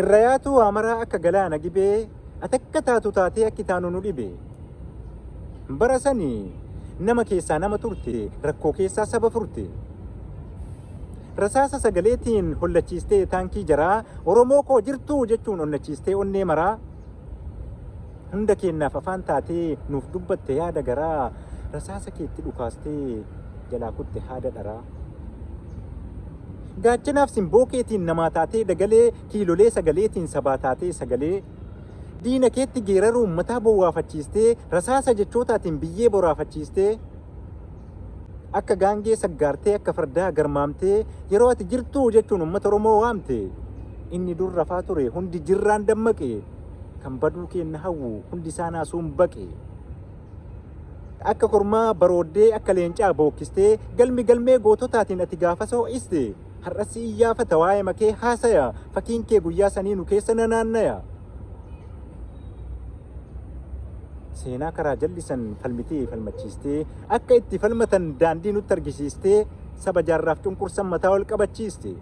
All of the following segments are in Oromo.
irrayaatuu waa maraa akka galaana gibee ati akka taatu taatee akki taanu nu dhibe bara sani nama keessaa nama turte rakkoo keessaa saba furte rasaasa sagaleetiin hollachiistee taankii jaraa oromoo koo jirtuu jechuun onnachiistee onnee maraa hunda keennaaf afaan taatee nuuf dubbatte yaada garaa rasaasa keetti dhukaastee jalaa kutte haada dharaa. Gaachanaaf simboo keetiin namaa taatee dagalee kiilolee sagaleetiin sabaa taatee sagalee diina keetti geeraruu ummataa bowwaafachiistee rasaasa jechootaatiin biyyee boraafachiistee akka gaangee saggaartee akka fardaa garmaamtee yeroo ati jirtuu jechuun ummata Oromoo waamte inni dur rafaa ture hundi jirraan dammaqe kan baduu keenna hawwu hundi isaa naasuun baqe. Akka kormaa barooddee akka leencaa bookkistee galmi galmee goototaatiin ati gaafas ho'iste. Har'as si iyyaafata waa'ee makee haasaya fakiin kee guyyaa sanii nu keessa nanaannaya. Seenaa karaa jallisan falmitee falmachiistee akka itti falmatan daandii nutti argisiistee saba jaarraaf cunqursan mataa ol qabachiiste.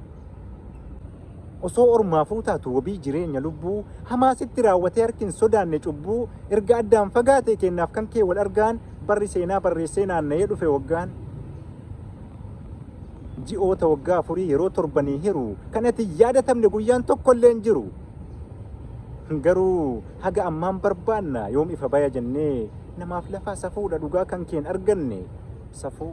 Osoo ormaafuu taatu wabii jireenya lubbuu Hamaa sitti raawwatee harki hin sodaanne cubbuu Erga addaan fagaatee keennaaf kan kee wal argaan Barri seenaa barreessee naanna'ee dhufe waggaan Ji'oota waggaa afurii yeroo torbanii hiru Kan ati hin yaadatamne guyyaan tokkollee hin jiru Garuu haga ammaan barbaanna yoom ifa baya jennee Namaaf lafaa safuudha dhugaa kan keen arganne Safuu